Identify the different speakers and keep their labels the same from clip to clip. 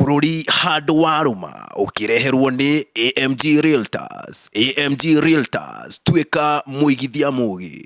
Speaker 1: bũrũri handũ warũma ũkĩreherwo nĩ AMG Realtors. AMG Realtors, tuĩka mũigithia mũgĩ.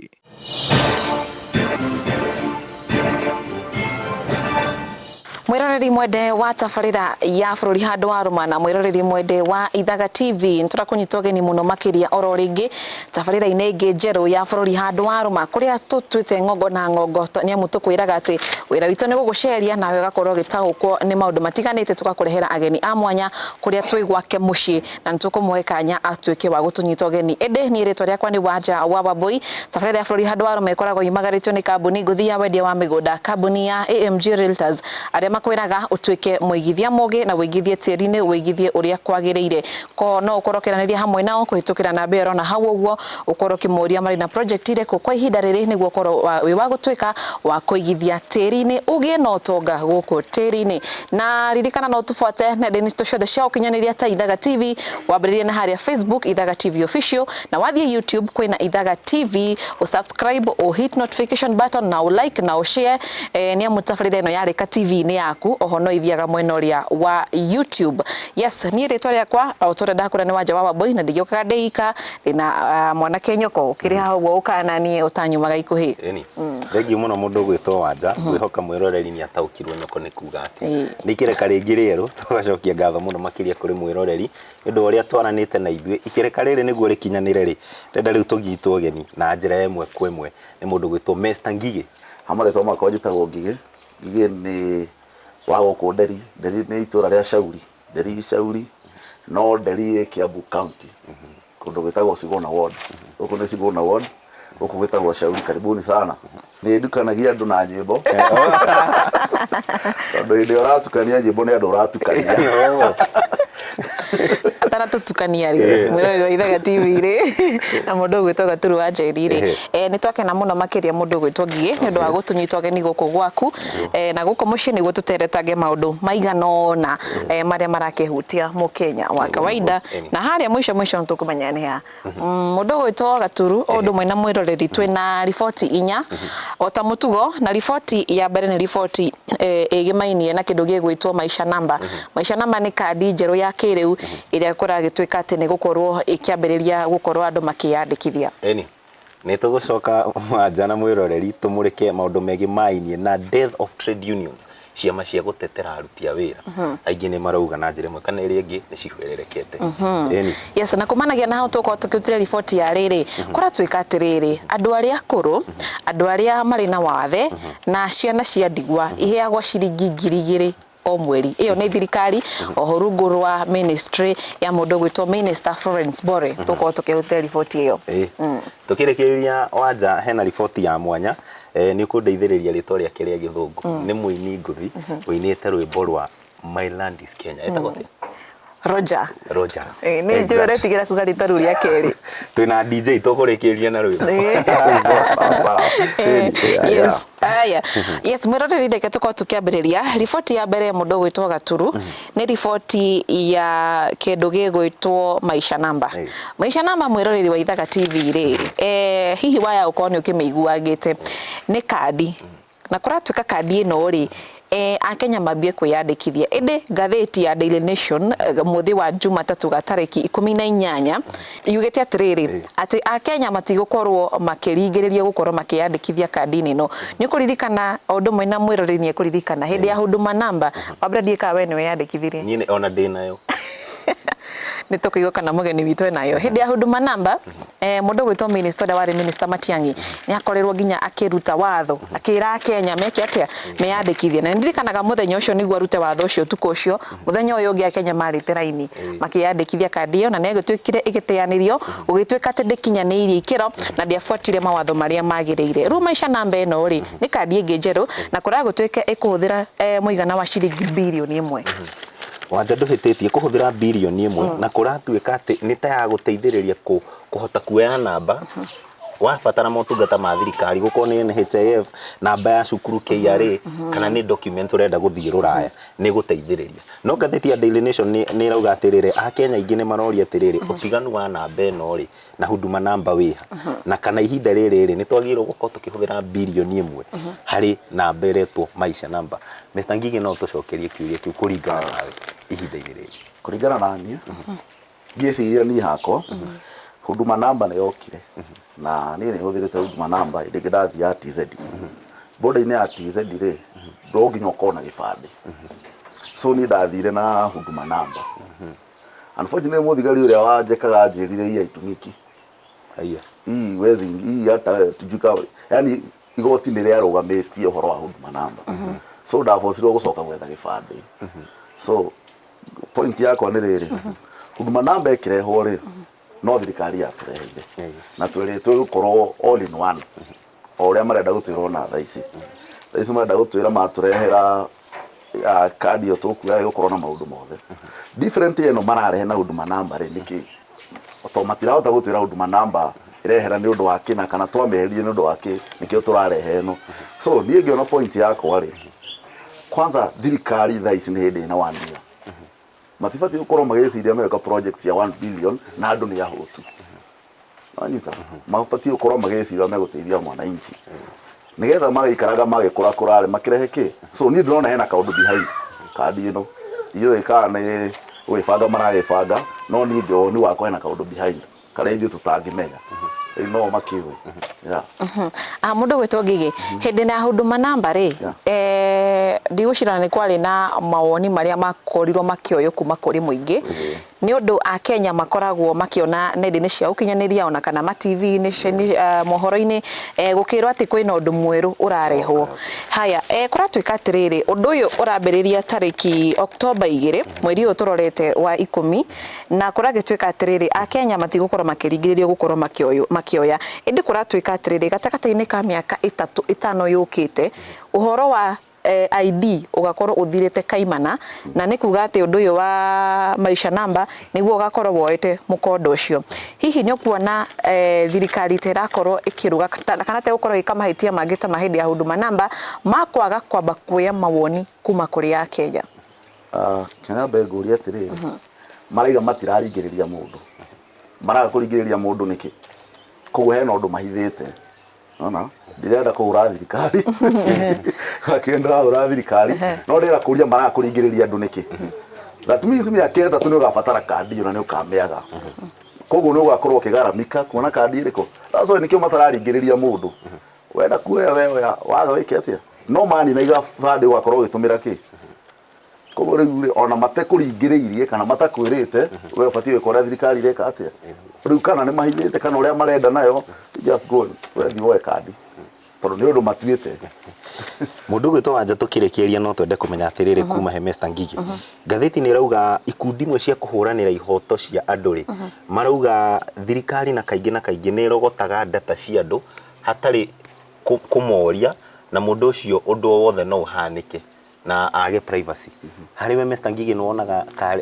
Speaker 2: mwiroreri mwende wa tabarira ya bururi handu wa ruma na mwiroreri mwende wa ithaga tv niturakunyita ugeni muno makiria oro ringi tabarĩra-inĩ ĩngĩ njerũ ya bũrũri handũ wa rũma kũrĩa tũtuĩte ng'ongo na ng'ongo nĩ amu tũkwĩraga atĩ wĩra witũ nĩ gũgũceria nawe ũgakorwo ũgĩtaũkwo nĩ maũndũ matiganĩte tũgakũrehera ageni a mwanya kũrĩa twĩ gwake mũciĩ na nĩ tũkũmũhe kanya atuĩke wa gũtũnyita ũgeni ĩndĩ niĩ rĩtwa rĩakwa nĩ Wanja wa Wambũi tabarĩra ya bũrũri handũ wa rũma ĩkoragwo yumagarĩtio nĩ kambuni ngũthi ya wendia wa mĩgũnda kambuni ya AMG Realtors arĩa makwĩraga ũtuĩke mũigithia mũgĩ na wĩigithie tĩri-inĩ wĩigithie ũrĩa kwagĩrĩire Kwoho no ũkorwo ũkĩaranĩria hamwe nao kũhĩtũkĩra namba ĩyo ũrona hau ũguo, ũkorwo ũkĩmoria marĩ na project irĩkũ kwa ihinda rĩrĩ nĩguo ũkorwo wĩ wa gũtuĩka wa kũigithia tĩri-inĩ ũgĩe na ũtonga gũkũ tĩri-inĩ. Na ririkana no ũtũbuate nenda-inĩ citũ ciothe cia ũkinyanĩria ta Ithaga TV, wambĩrĩrie na harĩa Facebook Ithaga TV Official, na wathiĩ YouTube kwĩna Ithaga TV, ũ subscribe, ũ hit notification button, na ũ like na ũ share, nĩamu tabarĩra ĩno yarĩka TV-inĩ yaku oho no ĩthiaga mwena ũrĩa wa YouTube. Yes, niĩ rĩtwa rĩakwa o tũrĩa ndakũra nĩ wanja wa Wambũi na ndigĩũkaga ndĩ ika ndĩna ah, mwanake nyoko ũkĩrĩ haha ũguo ũkaga na niĩ ũtanyumaga ikuhĩ Ĩni. Thengiũ mũno
Speaker 3: mũndũ gwĩtwo wanja gwĩhoka mwĩroreri nĩ ataũkirwo nyoko nĩ kuga atĩ Ĩĩ. nĩ ikereka rĩngĩ rĩerũ tũgacokia ngatho mũno makĩria kũrĩ mwĩroreri nĩ ũndũ wa ũrĩa twaranĩte na ithuĩ ikereka rĩrĩ nĩguo rĩkinyanĩre rĩ ndenda rĩu tũnyitwo ũgeni na njĩra ya ĩmwe kwa ĩmwe nĩ mũndũ gwĩtwo Mr Ngigĩ Ha marĩtwa makwa
Speaker 4: njĩtagwo Ngigĩ. Ngigĩ nĩ wa gũkũ Nderi. Nderi nĩ itũra rĩa Shauri, Nderi Shauri, no Nderi ĩ Kiambu County, kũndũ gwĩtagwo Suguna Ward. Gũkũ nĩ Suguna Ward, gũkũ gwĩtagwo Shauri. Karibuni sana. Nĩ ndukanagia andũ na nyĩmbo, tondũ hĩndĩ ĩrĩa ũratukania nyĩmbo nĩ andũ ũratukania.
Speaker 2: ataratũtukania rĩ mwĩra ũyũ waithaga tv-rĩ na mũndũ ũgwĩtwo gaturu wa njeri-rĩ eh, nĩ twakena mũno makĩria mũndũ ũgwĩtwo ngigĩ nĩ ũndũ wa gũtũnyita ũgeni gũkũ gwaku eh, na gũkũ mũciĩ nĩguo tũteretange maũndũ maigana ũna eh, marĩa marakĩhutia mũkenya wa kawaida na harĩa mũico mũico nĩ tũkũmenya nĩ ha Mũndũ ũgwĩtwo Gaturu o ũndũ ũmwe na mwĩroreri twĩ na riboti inya o ta mũtugo na riboti ya mbere nĩ riboti eh, ĩgĩmainie na kĩndũ gĩgwĩtwo maisha namba maisha namba nĩ kandi njerũ ya kĩrĩu ĩrĩa kũragĩtuĩka atĩ nĩ gũkorwo ĩkĩambĩrĩria gũkorwo andũ makĩyandĩkithia Eni. Nĩ
Speaker 3: tũgũcoka mwanja na mwĩroreri tũmũrĩke maũndũ megiĩ mainie na death of trade unions, ciama cia gũtetera aruti a wĩra. Aingĩ nĩ marauga na njĩra ĩmwe kana ĩrĩa ĩngĩ nĩ cihwererekete. Ĩni. Yes, na
Speaker 2: kumanagia na hau tũgũkorwo tũkĩrutire riboti ya rĩrĩ, kũratuĩka atĩrĩrĩ, andũ arĩa akũrũ, andũ arĩa marĩ na wathe na ciana cia ndigwa iheagwo ciringi ngiri igĩrĩ. o mweri. Ĩyo nĩ thirikari oho rungu rwa ministry ya mũndũ gwitwo minister Florence Bore mhm. tũkorwo tũkĩhũtĩra riboti ĩyo mm. tũkĩrĩkĩrĩria
Speaker 3: wanja hena riboti ya mwanya e, nĩ ũkũndeithĩrĩria rĩtwa rĩake rĩa gĩthũngũ mm. nĩ mũini ngũthi mhm. ũinĩte rwĩmbo rwa my land is Kenya etagwo mm. Roger.
Speaker 2: Roger. Eh, nĩ
Speaker 3: njũĩ ũretigĩra kuga
Speaker 2: rĩtwa rĩu rĩa kerĩ. Twĩna DJ
Speaker 3: tũkũrĩkĩria na rwĩmbo. Eh. Sawa sawa. Eh, Yeah, yeah.
Speaker 2: Yes. Aya. Yes, mwĩroreri reke tũkorwo tũkĩambĩrĩria. Riboti ya mbere ya mũndũ ũgwĩtwo Gaturu nĩ riboti ya kĩndũ gĩgwĩtwo Maisha Namba. Eh. Maisha Namba mwĩroreri wa Ithaga TV rĩ, eh, hihi waya ũkorwo nĩ ũkĩmĩiguagĩte nĩ kandi Na kũratuĩka kandi ĩno-rĩ, eh, Akenya mambie kwĩyandĩkithia. Ĩndĩ ngathĩti ya Daily Nation mũthĩ wa Jumatatũ ga tarĩki ikũmi na inyanya yugĩte atĩrĩrĩ, atĩ Akenya matigũkorũo makĩringĩrĩrio gũkorũo makĩyandĩkithia kandi-inĩ ĩno. Nĩ ũkũririkana o ũndũ ũmwe na mwĩroreri nĩ ekũririkana, hĩndĩ ya Huduma Namba, Wabera ndiũĩ kana wee nĩ weyandĩkithirie. Niĩ o na ndĩ nayo. Nĩ tũkũigua kana mũgeni witũ e nayo. Hĩndĩ ya Huduma Namba, eh, mũndũ gwĩtwo minister ũrĩa warĩ minister Matiang'i nĩ akorirwo nginya akĩruta watho akĩra Kenya meke atĩa meyandĩkithie na ndirikanaga mũthenya ũcio nĩguo arute watho ũcio ũtukũ ũcio mũthenya ũyũ ũngĩ Akenya marĩte raini makĩyandĩkithia kandi ĩyo na nĩ agĩtuĩkire ĩgĩteanĩrio gũgĩtuĩka atĩ ndĩkinyanĩirie ikĩro na ndĩabuatire mawatho marĩa magĩrĩire rĩu maisha namba ĩno rĩ nĩ kandi ĩngĩ njerũ na kũragũtuĩka ĩkũhũthĩra eh, mũigana wa ciringi birioni ĩmwe Wanja
Speaker 3: ndũhĩtĩtie, kũhũthĩra birioni ĩmwe na kũratuĩka atĩ nĩ ta ya gũteithĩrĩria kũ- kũhota kuoya namba wabatara motungata ma thirikari gũkorwo nĩ NHIF namba ya cukuru KRA kana nĩ document ũrenda gũthiĩ rũraya nĩ ĩgũteithĩrĩria no ngathĩti ya Daily Nation nĩ nĩ ĩrauga atĩrĩrĩ akenya aingĩ nĩ maroria atĩrĩrĩ ũtiganu wa namba ĩno rĩ na huduma namba wĩha na kana ihinda rĩrĩ rĩ nĩ twagĩrĩirwo gũkorwo tũkĩhũthĩra bilioni ĩmwe harĩ namba ĩretwo maisha namba Mr. Ngigĩ no ũtũcokerie kĩũria kĩu kũringana nawe ihinda-inĩ rĩrĩ kũringana na niĩ
Speaker 4: ngĩciria niĩ hakwa huduma namba nĩ yokire na niĩ nĩ hũthĩrĩte huduma namba hĩndĩ ĩngĩ ndathiaga TZ boda-inĩ ya TZ rĩ no nginya ũkorwo na gĩbandĩ so niĩ ndathire na huduma namba Unfortunately mũthigari ũrĩa wanjekaga anjĩrire hii haitumiki. Haiya.
Speaker 3: Hii wezi
Speaker 4: hii hata tujui ka yani igoti nĩ rĩarũgamĩtie ũhoro wa huduma namba. So ndabocirwo gũcoka gwetha gĩbandĩ. So point yakwa nĩ rĩrĩ huduma namba ĩkĩrehwo rĩ no thirikari yatũreheire Haiya. na twerĩtwo ĩgũkorwo all in one. o ũrĩa marenda gũtwĩra ona thaa ici thaa ici marenda gũtwĩra matũrehera ah, kandi ĩyo tũkuaga ĩgũkorwo na maũndũ mothe different ĩno mararehe na huduma namba rĩ nĩkĩ to matirahota gũtwĩra huduma namba ĩrehera nĩ ũndũ wa kĩna kana twamĩeherie nĩ ũndũ wa kĩ nĩkĩo tũrarehe ĩno so niĩ ngĩona point yakwa rĩ kwanza thirikari thaa ici nĩ hĩndĩ ĩna one year matibatiĩ gũkorwo magĩciria magĩka project cia 1 billion na andũ nĩ ahũtu wanyita mabatiĩ gũkorwo magĩcira megũteithia mwananchi nĩgetha magĩikaraga magĩkũrakũra rĩ makĩrehe kĩ so niĩ ndĩrona hena kaũndũ behind kandi ĩno ndiũĩ kana nĩ gwĩbanga maragĩbanga no niĩ ngĩ woni wakwa hena kaũndũ behind karĩa ithuĩ tũtangĩmenya rĩu no makĩũĩ yeah.
Speaker 2: Ah, mũndũ gwĩtwo ngigĩ hĩndĩ na huduma namba rĩ Yeah. eh, ndigũcirana nĩ kwarĩ na mawoni marĩa makorirwo makĩoywo kuma kũrĩ mũingĩ Nĩ ũndũ Akenya makoragwo makĩona nenda-inĩ cia ũkinyanĩria ona kana ma TV-inĩ, mohoro-inĩ gũkĩrwo atĩ kwĩna ũndũ mwerũ ũrarehwo. Haya, kũratuĩka atĩrĩrĩ, ũndũ ũyũ ũrambĩrĩria tarĩki October igĩrĩ, mweri ũyũ tũrorete wa ikũmi, na kũragĩtuĩka atĩrĩrĩ, Akenya matigũkorwo makĩringĩrĩrio gũkorwo makĩoya. Ĩndĩ kũratuĩka atĩrĩrĩ, gatagatĩ-inĩ ka mĩaka ĩtatũ ĩtano yũkĩte, ũhoro wa ID ũgakorwo ũthirĩte kaimana, na nĩ kuga atĩ ũndũ ũyũ wa Maisha Number nĩguo ũgakorwo woete mũkonde ũcio. Hihi nĩ ũkuona thirikari ta ĩrakorwo ĩkĩrũga kana ta ĩgũkorwo ĩgĩka mahĩtia mangĩ ta ma hĩndĩ ya Huduma Number ma kwaga kwamba kuoya mawoni kuma kũrĩ Akenya? Reke
Speaker 4: nyambe ngũrie atĩrĩrĩ, marauga matiraringĩrĩria mũndũ, maraga kũringĩrĩria mũndũ nĩkĩ? Koguo hena ũndũ mahithĩte. Nona? Ndirenda kũhũra thirikari. Lakini ndĩrahũra thirikari. No ndĩrenda kũria marakũringĩrĩria andũ nĩkĩ? That means mĩaka ĩtatũ nĩ ũgabatara kandi ĩyo na nĩ ũkamĩaga. Koguo nĩ ũgakorwo ũkĩgaramika kuona kandi ĩrĩkũ. That's why nĩkĩo matararingĩrĩria mũndũ. Wenda kuoya we oya, waga wĩke atĩa? No manina ibandĩ ũgakorwo ũgĩtũmĩra kĩ? koguo rä u rä ona matekå ringä rä irie kana matakwä rä te we batiä gwä ka å rä a thirikari ä reka atä a rä u kana nä mahinyä te kana å rä a marenda nayo just go and- we thiä woe kandi tondå nä å ndå matuä te
Speaker 3: Mũndũ ũgwĩtwo Wanja tũkĩrĩkĩrĩria no twende kũmenya atĩrĩrĩ kuma he Mr. Ngigĩ. Ngathĩti nĩ ĩrauga ikundi imwe cia kũhũranĩra ihoto cia andũ rĩ marauga thirikari na kaingĩ na kaingĩ nĩ ĩrogotaga ndata cia andũ hatarĩ kũ- kũmoria na mũndũ ũcio ũndũ o wothe no ũhanĩke. na age privacy harĩ we Mr Ngigĩ nĩwonaga ta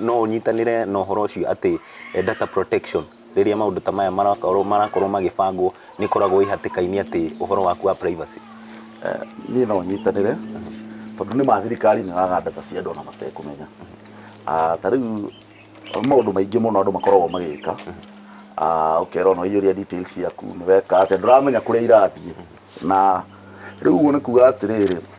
Speaker 3: no ũnyitanĩre na ũhoro ũcio atĩ eh, data protection rĩrĩa maũndũ ta maya marakorwo marakorwo magĩbangwo nĩkoragwo ĩ hatĩka-inĩ atĩ ũhoro waku wa privacy Eh, niĩ
Speaker 4: no nyitanĩre tondũ nĩ ma thirikari nĩ waga ndata cia andũ ona matekũmenya Ah, ta rĩu maũndũ maingĩ mũno andũ makoragwo magĩka Ah, ũkerwo no iyũria details ciaku nĩ weka atĩa ndũramenya kũrĩa irathiĩ na rĩu ũguo nĩ kuga atĩrĩrĩ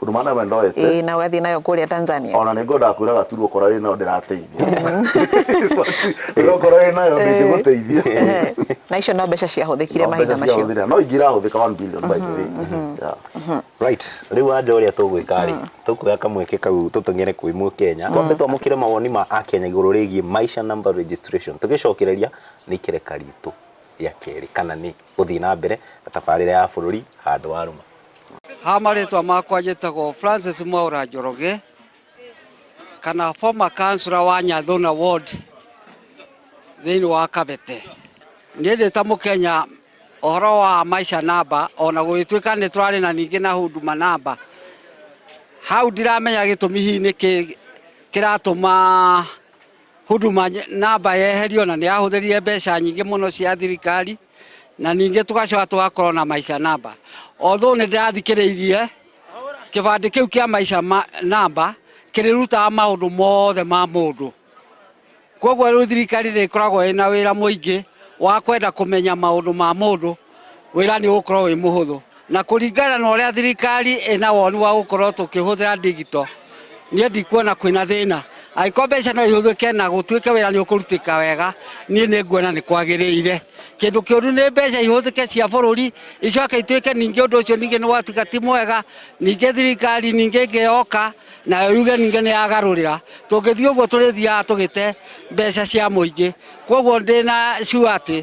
Speaker 2: Huduma nawe ndoete.
Speaker 4: Ĩĩ na ũgathiĩ nayo kũrĩa
Speaker 2: Tanzania. Ona nĩ ngwendaga kwĩra gaturwo
Speaker 4: korwo wĩ nayo ndĩrateithia. Ĩyo korwo wĩ nayo ndĩngĩgũteithia. Ehe. Na icio no mbeca ciahũthĩkire No mahinda mbeca macio. ciahũthĩra. No ingĩ irahũthĩka 1 billion by the way. Yeah. Right. Rĩu
Speaker 3: wanja ũrĩa tũgwĩka rĩ, tũkuoya kamweke kau tũtũng'ere kwĩ Mũkenya. Twambe twamũkĩre mawoni ma Akenya igũrũ rĩgiĩ Maisha Number Registration. Tũgĩcokereria nĩ ikereka ritũ rĩa kerĩ kana nĩ gũthiĩ na mbere na tabarĩra ya bũrũri handũ wa rũma. Ha
Speaker 5: marĩtwa makwa njĩtagwo
Speaker 3: Francis
Speaker 5: Mwaura Njoroge kana former councillor wa Nyathuna ward thĩinĩ wa Kabete. Niĩ ndĩ ta Mũkenya ũhoro wa maisha namba ona gũgĩtuĩka nĩ tũrarĩ na ningĩ na huduma namba hau ndiramenya gĩtũmi hihi nĩkĩ kĩratũma Huduma namba yeherio na nĩ yahũthĩrire mbeca nyingĩ mũno cia thirikari na ningĩ tũgacoka tũgakorwo na maisha namba although nĩ ndĩrathikĩrĩirie kĩbandĩ kĩu kĩa maisha namba kĩrĩrutaga maũndũ mothe ma mũndũ kwoguo rĩu thirikari rĩkoragwo ĩna wĩra mũingĩ wa kwenda kũmenya maũndũ ma mũndũ wĩra nĩ ũgũkorwo wĩ mũhũthũ na kũringana na ũrĩa thirikari ĩna woni wa gũkorwo tũkĩhũthĩra ndigito niĩ ndikuona kwĩna thĩna angĩkorwo mbeca no ihũthĩke na gũtuĩke wĩra nĩ ũkũrutĩka wega niĩ nĩ nguona nĩ kwagĩrĩire kĩndũ kĩũru nĩ mbeca ihũthĩke cia bũrũri icoke ituĩke ningĩ ũndũ ũcio ningĩ nĩ gwatuĩka ti mwega ningĩ thirikari ningĩ ĩngĩ yoka nayo yuge ningĩ nĩ yagarũrĩra tũngĩthiĩ ũguo tũrĩthiaga tũgĩte mbeca cia mũingĩ koguo ndĩna sure atĩ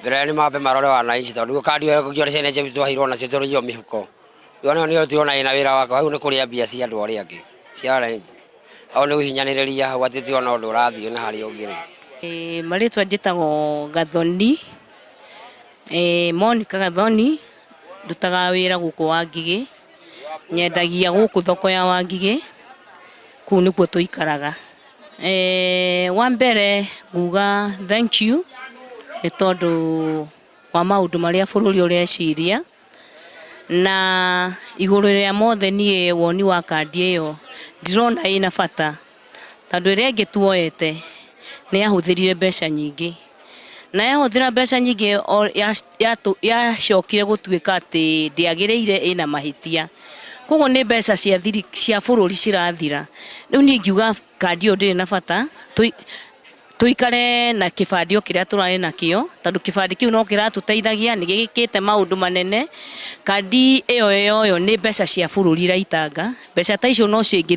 Speaker 6: Mbere nĩ mambe marore wananchi tondũ nĩguo kandi ĩyo kũngĩora ciana icio twaheirwo nacio tũrĩhio mĩhuko. Yo nayo nĩyo tũrona ĩna wĩra wako hau nĩ kũrĩa mbia cia andũ arĩa angĩ cia wananchi. Hau nĩ gũhinyanĩrĩria hau atĩ tũtirona ũndũ ũrathiĩ na harĩa ũngĩ rĩ. Ĩĩ marĩtwa
Speaker 7: njĩtagwo Gathoni, ĩĩ Monica Gathoni, ndutaga wĩra gũkũ Wangigĩ, nyendagia gũkũ thoko ya Wangigĩ, kũu nĩkuo tũikaraga. Eh, wa mbere nguga thank you nĩ tondũ wa maũndũ marĩa bũrũri ũreciria na igũrũ rĩa mothe niĩ woni wa kandi ĩyo ndirona ĩna bata tondũ ĩrĩa ĩngĩ tuoete nĩ yahũthĩrire mbeca nyingĩ Na yahũthĩra mbeca nyingĩ o ya- yatũ- yacokire gũtuĩka atĩ ndĩagĩrĩire ĩna mahĩtia koguo nĩ mbeca cia thiri cia bũrũri cirathira rĩu niĩ ngiuga kandi ĩyo ndĩrĩ na bata tũi- tũikare na kĩbandĩ o kĩrĩa tũrarĩ nakĩo tondũ kĩbandĩ kĩu no kĩratũteithagia nĩ gĩkĩte maũndũ manene kandi ĩyo yoywo nĩ mbeca cia bũrũri iraitanga mbeca ta icio no cingĩ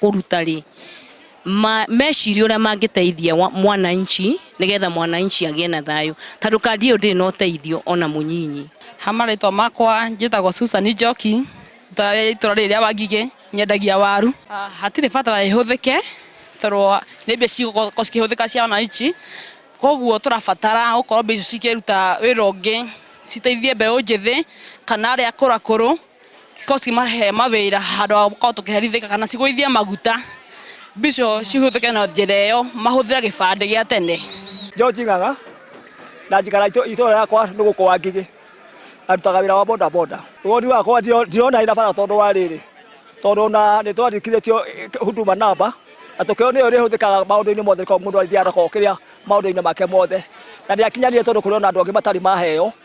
Speaker 7: kũruta rĩ ma, meciria ũrĩa mangĩteithia wa- mwananchi nĩgetha mwananchi agĩe na thayũ tondũ kandi ĩyo ndĩrĩ na ũteithio ona mũnyinyi ha marĩtwa makwa
Speaker 8: njĩtagwo Susan Njoki ta itũra rĩrĩ rĩa Wangigĩ nyendagia waru Ah, hatirĩ bata wa ĩhũthĩke tondũ nĩ mbia cigũkorwo cikĩhũthĩka cia wananchi koguo tũrabatara gũkorwo mbia icio cikĩruta wĩra ũngĩ citeithie mbeũ njĩthĩ kana arĩa akũrũ akũrũ ko cimahe mawĩra handũ ha gũkorwo tũkĩherithĩka kana cigũithie maguta mbica cihũthĩke na njĩra ĩyo mahũthĩre gĩbandĩ gĩa tene. George Ng'ang'a
Speaker 9: na njikara itũra yakwa nĩ gũkũ wa Ngigĩ na ndutaga wĩra wa boda boda. Woni wakwa ndirona ĩna bata tondũ wa rĩrĩ, tondũ na nĩ twandĩkithĩtio Huduma namba na tũkĩrwo nĩyo ĩrĩhũthĩkaga maũndũ-inĩ mothe korwo mũndũ athiaga na korwo kĩrĩa maũndũ-inĩ make mothe, na ndĩakinyanĩire tondũ kũrĩ ona andũ angĩ matarĩ maheo.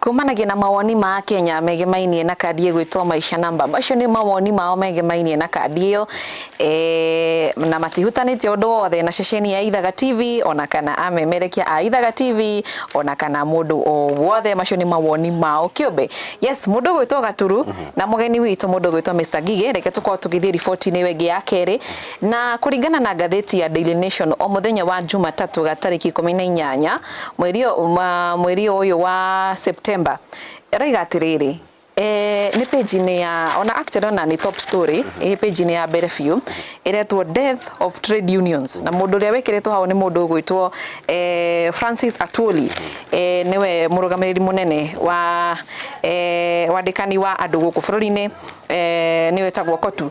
Speaker 9: Kumanagia na
Speaker 2: mawoni ma Akenya megemainie na kandi ĩgwĩtwo Maisha Namba. Macio nĩ mawoni mao megemainie na kandi ĩyo e, na matihutanĩtie ũndũ wothe na ceceni ya Ithaga TV ona kana amemerekia a Ithaga TV ona kana mũndũ o wothe. Macio nĩ mawoni mao kĩũmbe. Yes, mũndũ ũgwĩtwo Gaturu na mũgeni witũ mũndũ ũgwĩtwo Mr. Ngigĩ, reke tũkorwo tũgĩthiĩ riboti-inĩ ĩyo ĩngĩ ya kerĩ. Na kũringana na ngathĩti ya Daily Nation o mũthenya wa Jumatatũ ga tarĩki ikũmi na inyanya mweri mweri ũyũ wa September ĩroiga atĩrĩrĩ Eh, nĩ page-inĩ ya ona actually ona nĩ top story ĩ page-inĩ ya mbere biũ ĩretwo death of trade unions na mũndũ ũrĩa wĩkĩrĩtwo hau nĩ mũndũ ũgwĩtwo eh, Francis Atwoli eh, nĩwe mũrũgamĩrĩri mũnene wa eh, wandĩkani wa andũ gũkũ bũrũri-inĩ eh, nĩwe tagwo Kotu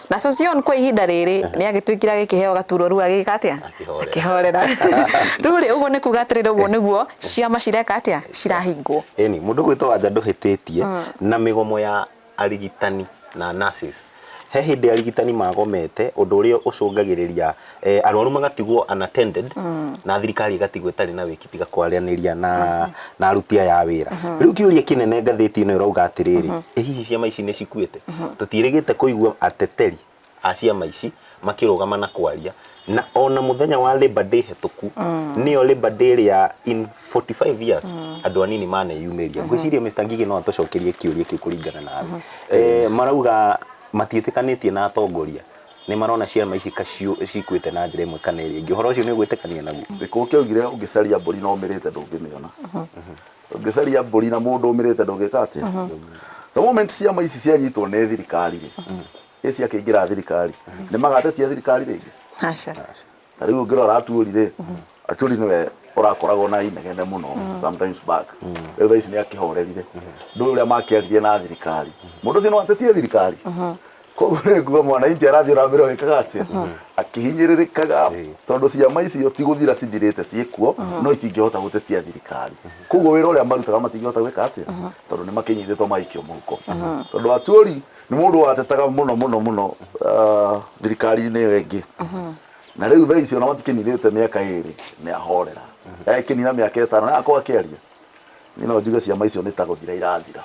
Speaker 2: na Sosion kwa ihinda rĩrĩ nĩ agĩtuĩkire agĩkĩheo gaturwa rĩu agĩka atĩa akĩhorera rĩu rĩ ũguo nĩ kuga atĩrĩrĩ ũguo nĩguo ciama cireka atĩa cirahingwo ĩni mũndũ gwĩtwo
Speaker 3: wanja ndũhĩtĩtie mm. na mĩgomo ya arigitani na nurses he hĩndĩ arigitani magomete ũndũ ũrĩa ũcũngagĩrĩria eh, arwaru magatigwo unattended na thirikari ĩgatigwo ĩtarĩ na wĩki tiga kwaranĩria na na aruti aya a wĩra rĩu kĩũria kĩnene ngathĩti ĩno ĩrauga atĩrĩrĩ ĩ hihi ciama ici nĩ cikuĩte tũtiĩrĩgĩte kũigua ateteri a ciama ici makĩrũgama na kwaria na ona mũthenya wa Labor Day hetũku nĩyo Labor Day ĩrĩa in 45 years andũ anini maneyumĩria ngwĩciria Mr Ngigĩ no atũcokerie kĩũria kĩu kũringana nawe Eh, marauga matiĩtĩkanĩtie na atongoria nĩ marona ciama ici ka ciũ- cikuĩte na njĩra ĩmwe kana ĩrĩa ĩngĩ ũhoro ũcio nĩ ũgwĩtĩkania naguo gĩkũũ kĩaugire
Speaker 4: ũngĩcaria mbũri na ũmĩrĩte ndũngĩmĩona ũngĩcaria mbũri na mũndũ ũmĩrĩte ndũngĩka atĩa the moment ciama ici cianyitwo nĩ thirikari rĩ ĩ ciakĩingĩra thirikari nĩ magatetia thirikari rĩngĩ Aca. na
Speaker 2: rĩu ũngĩrora
Speaker 4: aturi rĩ aturi nĩwe ũrakoragwo na inegene mũno sometimes back rĩu thaa ici nĩ akĩhorerire ndũĩ ũrĩa makĩaririe na thirikari mũndũ ũcio no atetie thirikari koguo nĩ nguga mwananchi arathiĩ na mbere ũgĩkaga atĩa akĩhinyĩrĩrĩkaga tondũ ciama icio ti gũthira cithirĩte ciĩkuo no itingĩhota gũtetia thirikari koguo wĩra ũrĩa marutaga matingĩhota gwĩka atĩa tondũ nĩ makĩnyitĩtwo magĩikio mũhuko tondũ aturi Nĩ mũndũ watetaga mũno mũno mũno ah, thirikari-inĩ ĩyo ĩngĩ na rĩu thaa ici ona matikĩninĩte mĩaka ĩrĩ nĩ ahorera ekĩnina mĩaka ĩtano na akorwo akĩaria niĩ no njuge ciama icio nĩ ta gũthira irathira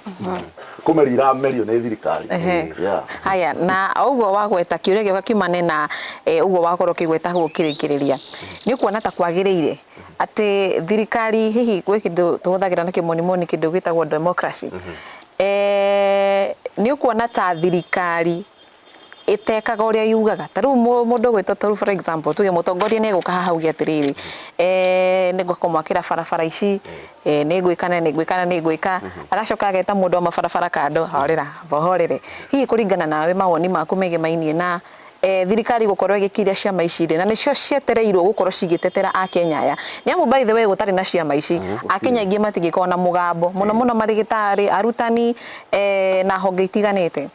Speaker 4: kũmerio iramerio nĩ thirikari Ehe. Yeah. haya
Speaker 2: na o ũguo wagweta kĩũria gĩoka kiumane na eh, ũguo wakorwo ũkĩgweta hau ũkĩrĩkĩrĩria nĩ kuona ta kwagĩrĩire atĩ thirikari hihi gwĩ kĩndũ tũhũthagĩra na kĩmonimoni kĩndũ gĩtagwo democracy mm -hmm. e, nĩ ũkuona ta thirikari ĩtekaga ũrĩa yugaga ta rĩu mũndũ gwĩtwo ta for example tuge mũtongoria nĩ egũka haha uge atĩrĩrĩ eh, nĩ ngwaka mwakĩra barabara ici eh, nĩ ngwĩka na nĩ ngwĩka na nĩ ngwĩka mhm. agacoka ageta mũndũ wa mabarabara kando horera bohorere hihi kũringana nawe mawoni maku megemainie na eh, thirikari gũkorwo ĩgĩkiria ciama ici rĩ na nĩcio cietereirwo gũkorwo cigĩtetera akenya aya nĩ amu by the way gũtarĩ na ciama ici akenya aingĩ matingĩkorwo na mũgambo mũno mũno marĩgĩtarĩ arutani eh, na honge itiganĩte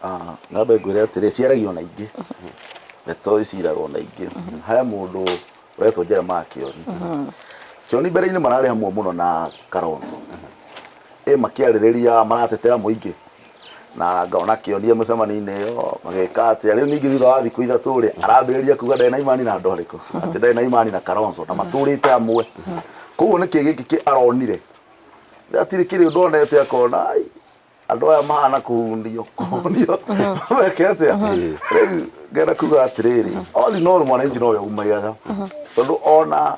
Speaker 2: Ah,
Speaker 4: ngambe ngwĩre atĩrĩ ciaragio na ingĩ ndeto iciragwo na ingĩ he mũndũ ũretwo jerema kĩoni kĩoni mbere-inĩ mararĩ hamwe mũno na karonzo ĩ makĩarĩrĩria maratetera mũingĩ na ngona kĩonia mũcemanio-inĩ ĩyo magĩka atĩa rĩu ningĩ thutha wa thikũ ithatũ rĩ arambĩrĩria kuga ndarĩ na imani na andũ arĩkũ atĩ ndarĩ na imani na Kalonzo na matũrĩte amwe koguo nĩkĩ gĩkĩ kĩ aronire hatirĩ kĩrĩ ũndũ onete akona "Ai, andũ aya mahana kũhunio kũhunio meke atĩa rĩu ngenda kuga atĩrĩrĩ all in all mwananchi nowe umagaga tondũ ona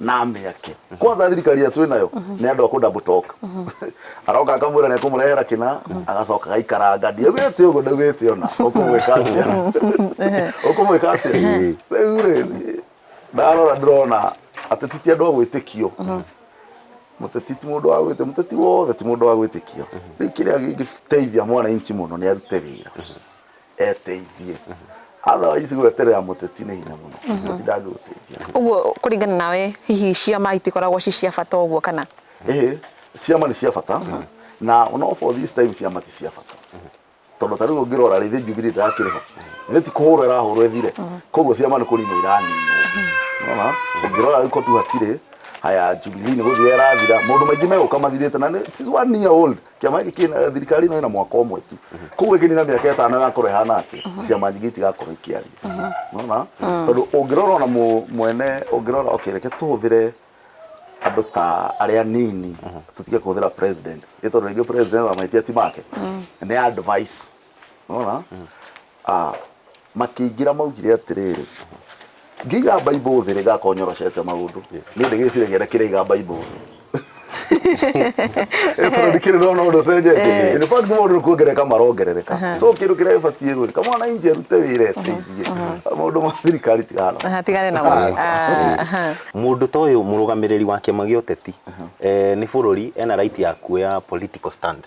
Speaker 4: na mĩake kwanza thirikari ĩrĩa twĩ nayo nĩ andũ a kũ double talk aroka akamwĩra nĩ ekũmũrehera kĩna agacoka agaikaranga ndiaugĩte ũguo ndaugĩte ona ũkũmwĩka atĩa ũkũmwĩka atĩa rĩu rĩ ndarora ndĩrona ateti ti andũ a gwĩtĩkio mũteti ti mũndũ wa gwĩtĩkio mũteti wothe ti mũndũ wa gwĩtĩkio rĩu kĩrĩa gĩngĩteithia mwananchi mũno nĩ arute wĩra eteithie otherwise gweterera mũteti nĩ hinya mũno mũteti ndangĩgũteithia Ũguo kũringana
Speaker 2: nawe hihi ciama itikoragwo ci cia bata ũguo kana? ĩhĩ
Speaker 4: ciama nĩ cia bata na no for this time ciama ti cia bata tondũ ta rĩu ũngĩrora rĩ thĩ Jubilee ndĩrakĩrĩ ho thĩ ti kũhũrwo ĩrahũrwo ĩthire koguo ciama nĩ kũninwo iraninwo Nĩwona? ũngĩrora rĩu kotu hatirĩ haya Jubilee nĩ gũthira ĩrathira maũndũ maingĩ megũka mathirĩte na nĩ she's one year old Kĩama gĩkĩ kĩna eh, thirikari ĩno ĩna mwaka ũmwe tu koguo ĩngĩ nina mĩaka ĩtano ĩgakorwo ĩhana atĩ ciama nyingĩ itigakorwo ikĩaria nona tondũ ũngĩrora ona mũ- mwene ũngĩrora okay reke tũhũthĩre andũ ta arĩa anini tũtige kũhũthĩra president nĩ tondũ rĩngĩ president ona mahĩtia ti make nĩ advice Nĩwona? Ah, makĩingĩra maugire atĩrĩrĩ ngĩiga baibũ thĩ rĩgakorwo nyoroshete maũndũ nĩ ndĩ gĩciragia na kĩraiga baibũ thĩ Eh, tondũ ndikĩrĩ ndona ũndũ ũcenjetie in fact maũndũ nĩ kuongereka marongerereka so kĩndũ kĩrĩa gĩbatiĩ gwĩka mwananchi arute wĩra eteithie maũndũ ma thirikari tigana Aha, tigane namo Ah,
Speaker 2: Ah, aha.
Speaker 3: mũndũ ta ũyũ mũrũgamĩrĩri wa kĩama gĩa ũteti eh, nĩ bũrũri ena right ya kuoya political stand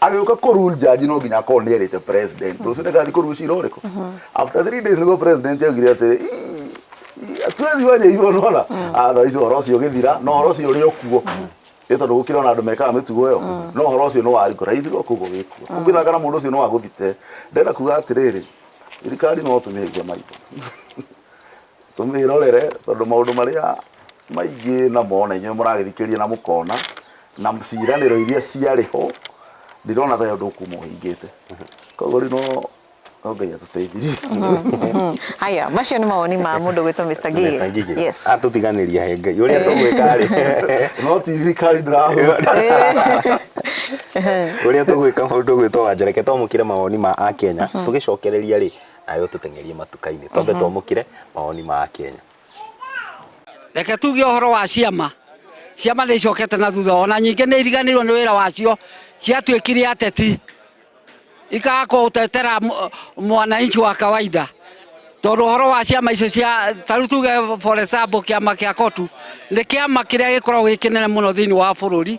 Speaker 4: agĩũka kũ rule judge no nginya akorwo nĩ erĩte president rũciũ ndagathiĩ kũ rule cira ũrĩkũ after three days nĩguo president augire atĩrĩ "Ii, ii, twethiĩ wanya igũrũ nona atha icio ũhoro ũcio ũgĩthira no ũhoro ũcio ũrĩ o kuo nĩ tondũ gũkĩrĩ ona andũ mekaga mĩtugo ĩyo no ũhoro ũcio nĩ wa rigorize go koguo wĩ kuo koguo gĩthaka na mũndũ ũcio nĩ wa gũthite ndĩrenda kuga atĩrĩrĩ thirikari no tũmĩhĩirie maitho Tũmĩrorere tondũ maũndũ marĩa maingĩ na mo na inyuĩ mũragĩthikĩrĩria na mũkona na ciĩranĩro iria ciarĩ ho ndirona ta ũndũ ũkuma ũhingĩte koguo rĩu no no ngai atũteithirie
Speaker 2: haya macio nĩ mawoni ma mũndũ gwĩtwo Mr. Ngigĩ Mr. Ngigĩ. yes Atũtiganĩria he ngai
Speaker 3: ũrĩa tũgwĩka rĩ no ti thirikari
Speaker 4: ndĩrahũra
Speaker 3: ũrĩa tũgwĩka mũndũ gwĩtwo wanjereke twamũkĩre mawoni ma akenya tũgĩcokereria rĩ nawe ũtũteng'erie matuka-inĩ twambe twamũkĩre mawoni ma Akenya.
Speaker 5: Reke tuge ũhoro wa ciama. Ciama nĩ icokete na thutha ona nyingĩ nĩ iriganĩirwo nĩ wĩra wacio ciatuĩkire ateti ikaga kũtetera mũ- mwananchi wa kawaida tondũ ũhoro wa ciama icio cia ta rĩu tuge for example kĩama kĩa kotu nĩ kĩama kĩrĩa gĩkoragwo gĩ kĩnene mũno thĩinĩ wa bũrũri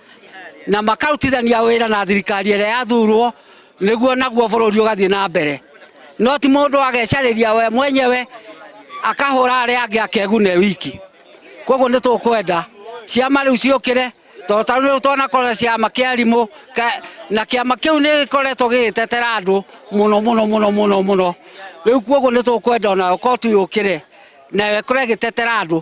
Speaker 5: na makarutithania wĩra na thirikari ĩrĩa yathurwo nĩguo naguo bũrũri ũgathiĩ na mbere no ti mũndũ agecarĩria we mwenyewe akahũra arĩa angĩ akegune wiki koguo nĩ tũkwenda ciama rĩu ciũkĩre tondũ tarĩu rĩu twanakorera ciama kĩa arimũ ka- na kĩama kĩu nĩ gĩkoretwo gĩgĩtetera andũ mũno mũno mũno mũno mũno rĩu koguo nĩ tũkwenda onayo kotu yũkĩre nayo ĩkorwo ĩgĩtetera andũ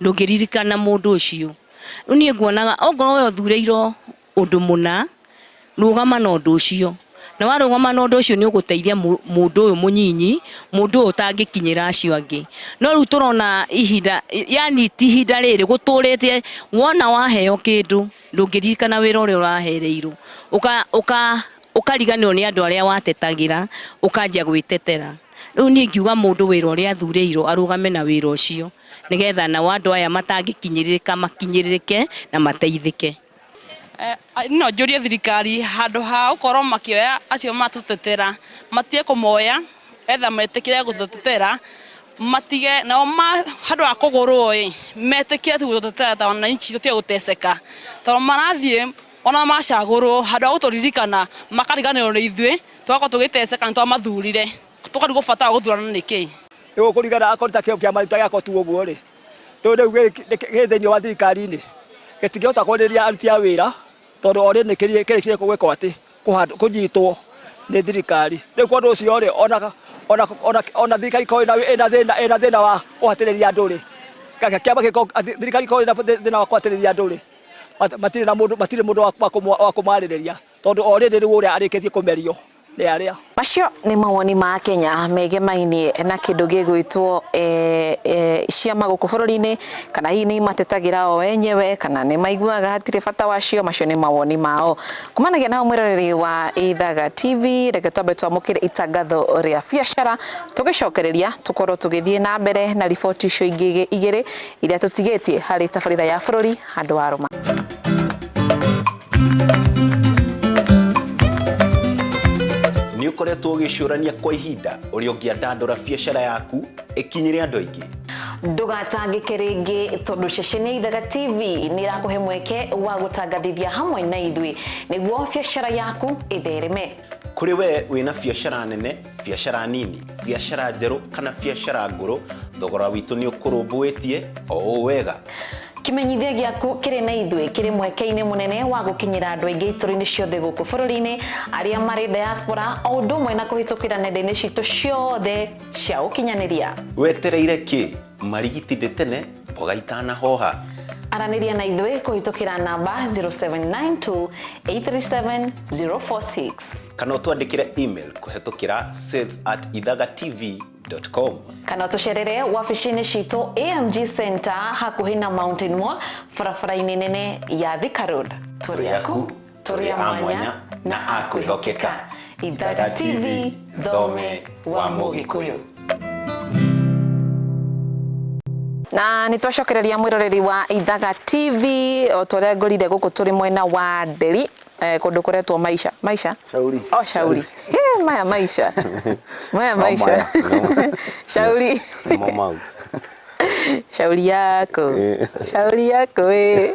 Speaker 7: ndũngĩririkana mũndũ ũcio rĩu niĩ nguonaga ongorwo we ũthureirwo ũndũ mũna rũgama na ũndũ ũcio na warũgama na ũndũ ũcio nĩ ũgũteithia mũ- mũndũ ũyũ mũnyinyi mũndũ ũyũ ũtangĩkinyĩra acio angĩ no rĩu tũrona ihinda yani ti ihinda rĩrĩ gũtũrĩte wona waheo kĩndũ ndũngĩririkana wĩra ũrĩa ũrahereirwo Ũka- ũka- ũkariganĩrwo nĩ andũ arĩa watetagĩra ũkanjia gwĩtetera Rĩu niĩ ngiuga mũndũ wĩra ũrĩa athurĩirwo arũgame na wĩra ũcio nĩgetha nao andũ aya matangĩkinyĩrĩrĩka makinyĩrĩrĩke na mateithĩke.
Speaker 8: No njũrie thirikari handũ ha gũkorwo makĩoya acio matũtetera matige kũmoya either metĩkĩre gũtũtetera matige nao handũ ha kũgũrwo ĩ metĩkĩre tu gũtũtetera ta wananchi tũtige gũteceka tondũ marathiĩ Ona macagũrwo, handũ ha gũtũririkana, makariganĩrwo nĩ ithuĩ, tũgakorwo tũgĩteceka nĩ twamathurire, tũkarigwo bata wa gũthurana nĩ kĩĩ. Nĩ gũkũrigana
Speaker 9: akorwo ta kĩama gitũ ta gĩakwa tu ũguo-rĩ, rĩu rĩu gĩ thĩiniĩ wa thirikari-inĩ, gĩtingĩhota kwarĩria aruti a wĩra, tondũ already nĩ kĩrĩkĩtie gwĩkwo atĩ, kũnyitwo nĩ thirikari. Rĩu kwa ũndũ ũcio-rĩ, ona ona ona ona thirikari ĩkorwo ĩna ĩna thĩna ĩna thĩna wa kũhatĩrĩria andũ-rĩ, kĩama gĩkorwo thirikari ĩkorwo ĩna thĩna wa kũhatĩrĩria andũ-rĩ, matirä na mundu matirä mundu wa kũmwa- wa kũmarĩrĩria tondũ o rĩrĩ rĩu ũrĩa arĩkĩtie kũmerio nĩ arĩa Macio nĩ mawoni
Speaker 2: ma Akenya megemainie na kĩndũ gĩgwĩtwo eh, eh, ciama gũkũ bũrũri-inĩ kana hihi nĩ imatetagĩra o enyewe kana nĩ maiguaga hatirĩ bata wacio macio nĩ mawoni mao kumanagia nao mwĩroreri wa Ithaga TV reke twambe twamũkĩre itangatho rĩa biacara tũgĩcokereria tũkorwo tũgĩthiĩ na mbere na riboti icio ingĩ igĩrĩ iria tũtigĩtie harĩ tabarĩra ya bũrũri handũ wa rũma.
Speaker 3: nä å koretwo å gä cårania kwa ihinda å rä a å ngä andandå biacara yaku ä kinyä andå aingä ndũgatangĩke
Speaker 2: rĩngĩ tondũ ceceni ya ithaga tv nĩ ĩrakũhe mweke wa gũtangathithia hamwe na ithuĩ nĩguo biacara yaku ĩthereme kå rä we
Speaker 3: wä na biacara nene biacara nini biacara njerũ kana biacara ngũrũ thogora witũ nĩ ũkũrũmbũĩtie o ũũ wega kimenyithia
Speaker 2: gĩaku kĩrĩ na ithuĩ kĩrĩ mweke-inĩ mũnene wa gũkinyĩra andũ aingĩ itũra-inĩ ciothe gũkũ bũrũri-inĩ arĩa marĩ diaspora o ũndũ ũmwe na kũhĩtũkĩra nenda-inĩ citũ ciothe cia ũkinyanĩria wetereire kĩ
Speaker 3: Marigitithĩ tene mboga itanahoha. Aranĩria na
Speaker 2: ithuĩ kũhĩtũkĩra namba 0792-837-046. Kana
Speaker 3: ũtwandĩkĩre email kũhĩtũkĩra sales at ithagatv.com. Kana ũtũcerere
Speaker 2: wabici-inĩ citũ AMG Center hakuhĩ na Mountain Mall barabara-inĩ nene ya Thika Road. Tũrĩ aku. tũrĩ a mwanya na a kwĩhokeka ithaga tv thome wa mũgĩkũyũ na nä twacokereria mwä roreri wa ithaga tv o ta å rä a ngorire gå kå tå rä mwena wa nderi eh, kå ndå kå retwo maisha maisha Shauri. o shauri
Speaker 4: He,
Speaker 2: maya maisha maya maisha maya, no. shauri Nĩmo mau. shauri yako Eh. shauri yako ĩ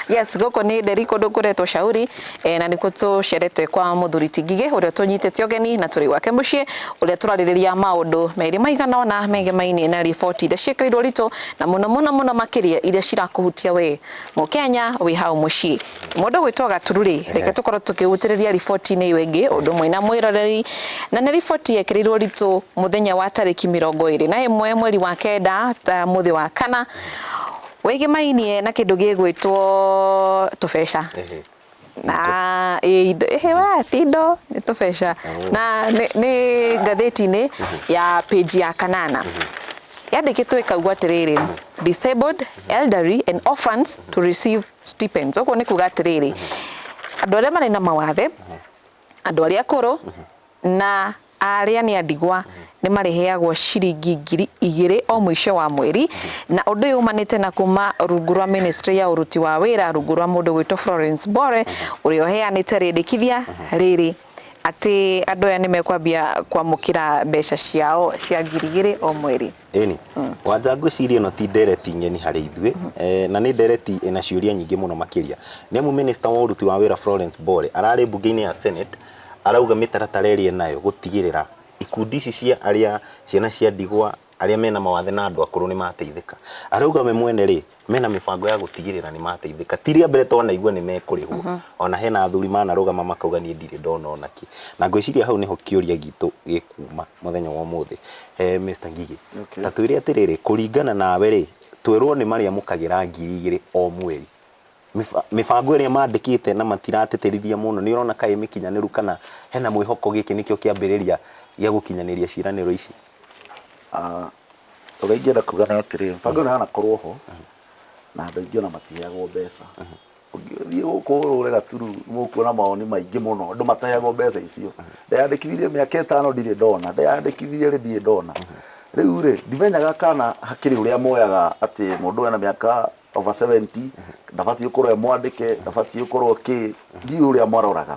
Speaker 2: yes gũkũ nĩ nderi kũndũ kũretwo shauri eh, na nĩkuo tũcerete kwa mũthuri tingigĩ ũrĩa tũnyitĩte ũgeni na tũrĩ gwake mũciĩ ũrĩa tũrarĩrĩria maũndũ merĩ maigana ona megie mainĩ na riboti iria ciĩkĩrĩirwo ritũ na mũno mũno mũno makĩria iria cirakũhutia we mũkenya wĩ hau mũciĩ Mũndũ gwĩtwo Gaturu-rĩ, reke tũkorwo tũkĩgutĩrĩria riboti-inĩ ĩyo ĩngĩ ũndũ ũmwe na mwĩroreri, na nĩ riboti yekĩrĩirwo ritũ mũthenya wa tarĩki mĩrongo ĩrĩ na ĩmwe mweri wa kenda ta mũthĩ wa kana, wĩgĩmainie na kĩndũ gĩgwĩtwo tũbeca na ĩ indo ĩhĩ we ti indo nĩ tũbeca na nĩ nĩ ngathĩti-inĩ ya page ya kanana yandĩkĩtwo ĩkauga atĩrĩrĩ, disabled, elderly and orphans to receive stipends. Ũguo nĩ kuga atĩrĩrĩ, andũ arĩa marĩ na mawathe, andũ arĩa akũrũ na arĩa nĩ andigwa nĩ marĩheagwo ciringi ngiri igĩrĩ o mũico wa mweri na ũndũ ũyũ umanĩte na kuma rungu rwa ministry ya ũruti wa wĩra rungu rwa mũndũ gwĩtwo Florence Bore ũrĩa ũheanĩte rĩndĩkithia rĩrĩ atĩ andũ aya nĩ mekwambia kwamũkĩra mbeca ciao cia ngiri igĩrĩ o mweri. Ĩni. Wanja
Speaker 3: ngwĩciria ĩno ti ndereti ng'eni harĩ ithuĩ, eh, na nĩ ndereti ĩna ciũria nyingĩ mũno makĩria. Nĩ amu mĩnĩsta wa ũruti wa wĩra Florence Bore ararĩ mbunge-inĩ ya Senate arauga mĩtaratara ĩrĩa enayo gũtigĩrĩra ikundi ici cia arĩa ciana cia ndigwa, arĩa mena mawathe na andũ akũrũ nĩ mateithĩka. Arauga we mwene rĩ, mena mĩbango ya gũtigĩrĩra nĩ mateithĩka. Ti rĩa mbere twanaigua nĩ mekũrĩhwo. Mm-hmm. Ona hena athuri manarũgama makauga niĩ ndirĩ ndona ona kĩ. Na ngwĩciria hau nĩho kĩũria gitũ gĩkuuma mũthenya wa ũmũthĩ. Eh, Mr. Ngigĩ, okay. ta twĩre atĩrĩrĩ, kũringana nawe rĩ, twerwo nĩ marĩa mũkagĩra ngiri igĩrĩ o mweri mibango ĩrĩa mandĩkĩte na matiratĩtĩrithia mũno nĩ ũrona kaĩ mĩkinyanĩru kana hena mwĩhoko gĩkĩ nĩkĩo kĩambĩrĩria gĩa gũkinyanĩria ciĩranĩro ici Ah,
Speaker 4: ũrĩa ingĩenda kuga nĩ atĩrĩ mũbango ũyũ ndanakorwo ho na andũ aingĩ ona matiheagwo mbeca ũngĩthiĩ gũkũ ũrũre gaturu mũkuona maoni maingĩ mũno andũ mataheagwo mbeca icio ndeyandĩkithirie mĩaka ĩtano ndirĩ ndona ndeyandĩkithirie rĩ ndirĩ ndona rĩu rĩ ndimenyaga kana hakĩrĩ ũrĩa moyaga atĩ mũndũ ũyũ ena mĩaka over 70 ndabatiĩ gũkorwo e mwandĩke ndabatiĩ gũkorwo kĩ ndiũĩ ũrĩa maroraga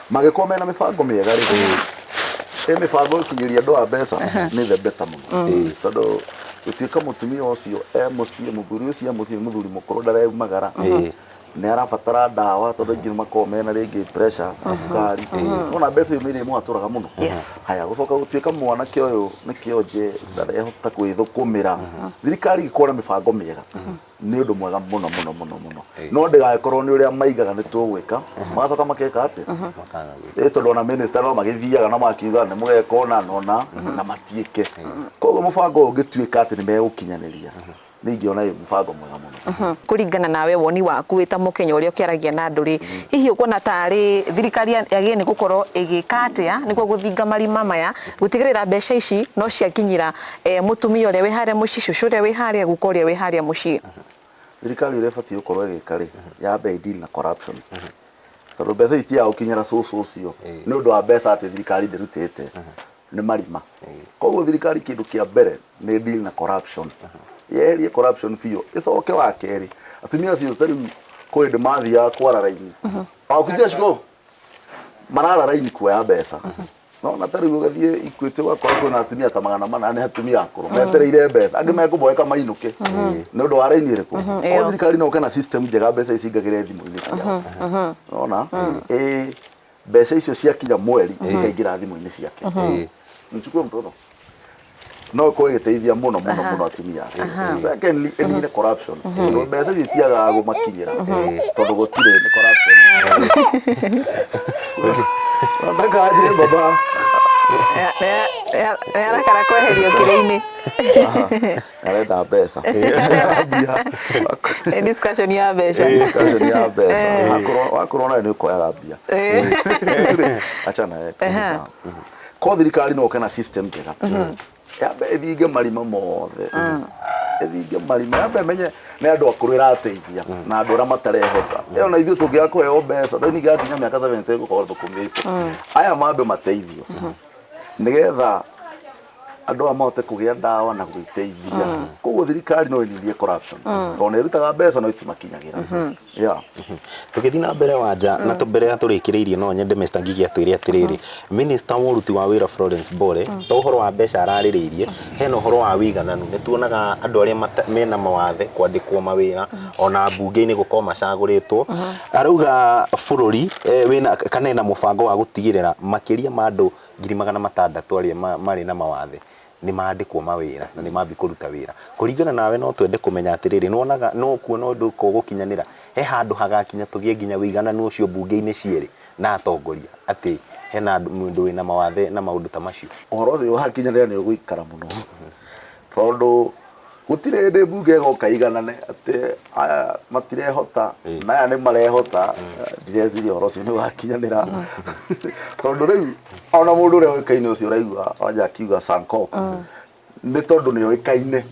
Speaker 4: mangĩkorwo mena mĩbango mĩega rĩ ĩ mĩbango ĩkinyĩria andũ a mbeca nĩ the beta mũno tondũ gũtuĩka mũtumia ũcio e mũciĩ mũthuri ũcio e mũciĩ nĩ mũthuri mũkũrũ ndareumagara nĩ arabatara ndawa tondũ aingĩ nĩ makoragwo mena rĩngĩ pressure na cukari nona mbeca icio nĩ irĩmũhatũraga mũno Yes. haya gũcoka gũtuĩka mwanake ũyũ nĩ kĩonje ndarehota kwĩthũkũmĩra thirikari ĩkorwo na mĩbango mĩega nä å ndå mwega må no må no må no må no Ĩĩ. no ndägagäkorwo nä å rä a maigaga nä tå gwä ka magacoka makeka atä makaga gwĩka. tondå ona minista no magäthiaga na makiuga nä må geka å na na å na na matiä ke koguo må bango å yå å ngä tuä ka atä nä megå kinyanä ria nä ingä ona ä må bango mwega må no kũringana nawe woni
Speaker 2: waku wĩ ta mũkenya ũrĩa ũkĩaragia na andũ rĩ hihi ũkuona tarĩ thirikari ya ya gĩni gũkorwo ĩgĩka atĩa nĩguo gũthinga marima maya gũtigĩrĩra mbeca ici no ciakinyĩra E, mũtumia ũrĩa wĩ harĩa mũciĩ cucu ũrĩa wĩ harĩa guka ũrĩa wĩ harĩa mũciĩ thirikari ũrĩa
Speaker 4: ĩbatiĩ gũkorwo ĩgĩka rĩ yambe ĩdeal na corruption tondũ mbeca itia gũkinyĩra cũcũ ũcio nĩ ũndũ wa mbeca atĩ thirikari ndĩrutĩte nĩ marima koguo thirikari kĩndũ kĩa mbere nĩ deal na corruption yeherie corruption biũ ĩcoke wa kerĩ atumia acio ta rĩu kwĩ hĩndĩ mathiaga kwara raini wakutia ciko marara raini kuoya mbeca nona ta riu ugathie ikwiti wakora kwina atumia ta magana mana ni atumia akuru mm. metereire mbeca angi mekuboeka mainuke mm-hmm. ni undu wa raini iriku mm-hmm. ko thirikari no kana system njega mbeca ici ingagire thimu-ini ciao mm-hmm. nona mm. eh, mbeca icio ciakinya mweri ikaingira thimu-ini ciake mchukue mtoto no ko giteithia muno muno muno atumia acio secondly eni ni corruption tondu mbeca icio itiagaga gumakinyira tondu gutire ni corruption nataka aje baba
Speaker 2: arakara kweherio kĩrĩ-inĩ
Speaker 4: arenda mbeca
Speaker 2: Nĩ discussion ya mbeca Eh, discussion ya mbeca Wakorwo-
Speaker 4: wakorwo nayo nĩ ũkoyaga mbia achana eh, Aha. sawa. ko thirikari no ke na system njega yambe ĩthinge marima mothe ĩthinge marima yambe ĩmenye nĩ andũ akũrũ ĩrateithia na andũ arĩa matarehota ĩyo na ithuĩ tũngĩaga kũheo mbeca thĩinĩ gĩa nginya mĩaka 70 gũkorwo thũkũmĩte aya mambe mateithio nĩgetha andũ aya mahote kũgĩa ndawa na gwĩteithia koguo thirikari no ĩnyihie corruption tondũ nĩ ĩrutaga mbeca no itimakinyagĩra Yeah.
Speaker 3: Tũgĩthiĩ na mbere wanja na tũ- mbere ya tũrĩkĩrĩirie no nyende Mr. Ngigi atwĩre atĩrĩrĩ Minister wa ũruti wa wĩra Florence Bore to ũhoro wa mbeca ararĩrĩirie hena ũhoro wa wĩigananu nĩ tuonaga andũ arĩa mata- mena mawathe kwandĩkwo mawĩra ona mbunge-inĩ gũkorwo macagũrĩtwo arauga bũrũri eh, wĩna kana ena mũbango wa gũtigĩrĩra makĩria ma andũ ngiri magana matandatũ arĩa ma- marĩ na mawathe nĩ mandĩkwo mawĩra na nĩ mambi kũruta wĩra. Kũringana nawe no twende kũmenya atĩrĩrĩ, nĩ wonaga no ũkuona ũndũ ũka ũgũkinyanĩra? He handũ hagakinya tũgĩe nginya ũigananu ũcio mbunge-inĩ cierĩ na atongoria atĩ hena mũndũ wĩna mawathe na maũndũ ta macio? Ũhoro ũcio ũgakinyanĩra
Speaker 4: nĩ ũgũikara mũno tondũ Gũtirĩ hĩndĩ mbunge ĩgoka iganane atĩ aya matirehota na aya nĩ marehota ndireciria ũhoro ũcio nĩ wakinyanĩra tondũ rĩu ona mũndũ ũrĩa ũĩkaine ũcio ũraigua wanja akiuga sanko nĩ tondũ nĩ oĩkaine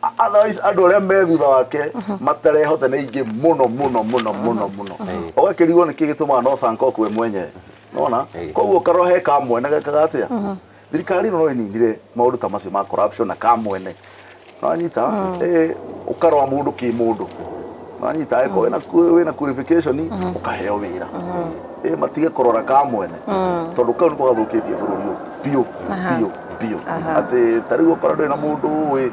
Speaker 4: A- otherwise andũ arĩa me thutha wake matarehota nĩ aingĩ mũno mũno mũno mũno mũno ũgakĩrigwo nĩkĩ gĩtũmaga no sanko kwe mwenyewe nona Ĩĩ. koguo karora he kamwe na gekaga atĩa Thirikari ĩno no ĩninire maũndũ ta macio ma corruption na kamwene. Nĩwanyita? Eh, ũkarora mũndũ kĩmũndũ. Nĩwanyita? Angĩkorwo wĩna ku- wĩna qualification, ũkaheo wĩra. Eh, matige kũrora kamwene. Tondũ kau nĩko gathũkĩtie bũrũri ũyũ biũ, biũ, biũ. Atĩ ta rĩu okorwo ndũrĩ na mũndũ ũĩ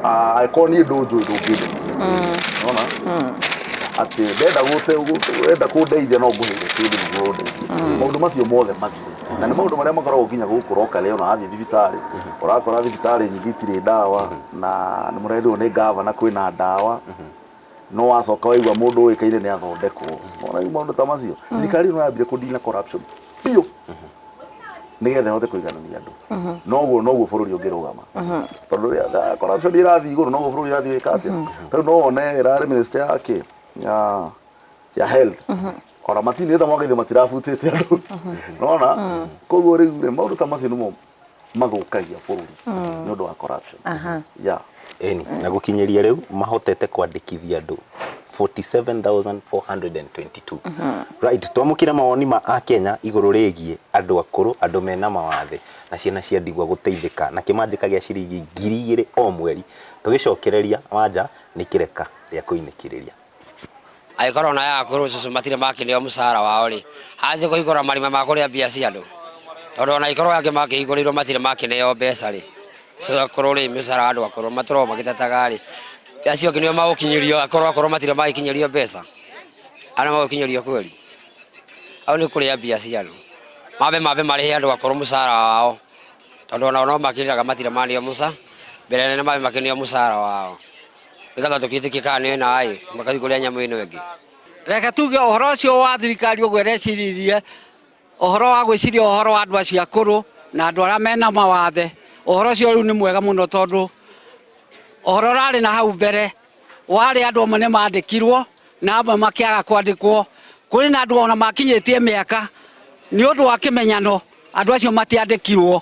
Speaker 4: Ah, angĩkorwo niĩ ndũnjũĩ ndũngĩndeithia nona atĩ ndenda gũte- gũ- wenda kũndeithia no ngũheire kĩndũ nĩguo ũndeithie maũndũ macio mothe mathire na nĩ maũndũ marĩa makoragwo nginya gũkũ rokare ona wathiĩ thibitarĩ ũrakora thibitarĩ nyingĩ itirĩ ndawa na nĩ mũrerirwo nĩ ngavana kwĩna ndawa no wacoka waigua mũndũ ũĩkaine nĩ athondekwo ona rĩu maũndũ ta macio thirikari ĩno yambire kũndina corruption biũ nĩgetha ĩhote kũiganania andũ noguo noguo bũrũri ũngĩrũgama tondũ rĩrĩa corruption ĩrathiĩ igũrũ noguo bũrũri ũrathiĩ wĩka atĩa tarĩu no wone ĩrarĩ minister ya kĩ ya ya health ona matinĩ ta mwaka ithe matirabutĩte andũ nona koguo rĩu rĩ maũndũ ta macio nĩmo mathũkagia bũrũri nĩ ũndũ wa corruption yeah.
Speaker 3: Eni, na gũkinyĩria rĩu mahotete kwandĩkithia andũ 47,422 right twamũkire mawoni ma akenya igũrũ rĩgiĩ andũ akũrũ andũ mena mawathe na ciana cia ndigwa gũteithĩka na kĩmanjĩka gĩa ciringi ngiri igĩrĩ o mweri tũgĩcokereria wanja nĩ kĩreka rĩa kũinĩkĩrĩria
Speaker 6: agĩkorwo na ya akũrũ cũcũ matirĩ makĩneo mũcara wao rĩ athiĩ kũhingũra marima ma kũrĩa mbia cia andũ tondũ ona ikorwo angĩ makĩhingũrĩirwo matirĩ makĩneo mbeca rĩ cũcũ akũrũ rĩ mũcara wa andũ akũrũ matũragwo magĩtetaga rĩ acio angĩ nĩo magũkinyĩrio akorwo akorwo matirĩ magĩkinyĩrio mbeca arĩa magũkinyĩrio kweri au nĩ kũrĩa mbia cia andũ mambe mambe marĩhe andũ akũrũ mũcara wao tondũ ona no makĩrĩraga matirĩ maneo mũca mbere nene mambe makĩneo mũcara wao nĩgetha tũkĩtĩkie kana nĩ naĩ magathiĩ kũrĩa nyamũ ĩno ĩngĩ reke tuge
Speaker 5: ũhoro ũcio wa thirikari ũguo ĩreciririe ũhoro wa gwĩciria ũhoro wa andũ acio akũrũ na andũ arĩa mena mawathe ũhoro ũcio rĩu nĩ mwega mũno tondũ ũhoro ũrarĩ na hau mbere warĩ andũ amwe nĩ mandĩkirwo na amwe makĩaga kwandĩkwo kũrĩ na andũ ona makinyĩtie mĩaka nĩ ũndũ wa kĩmenyano andũ acio matiandĩkirwo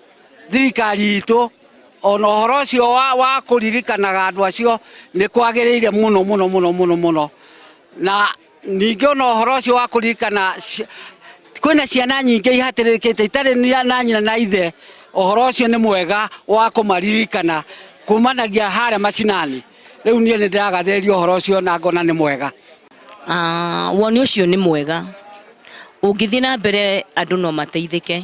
Speaker 5: thirikari itũ ona ũhoro ũcio wa kũririkanaga andũ acio nĩ kwagĩrĩire mũno mũno mũno mũno mũno na ningĩ ona ũhoro ũcio wa kũririkana kwĩna ciana nyingĩ ihatĩrĩrĩkĩte itarĩ na nyina na ithe ũhoro ũcio nĩ mwega wa kũmaririkana kumanagia harĩa macinani rĩu niĩ nĩ ndĩragathĩrĩria ũhoro ũcio na ngona nĩ mwega ah,
Speaker 7: woni ũcio nĩ mwega ũngĩthiĩ na mbere andũ no mateithĩke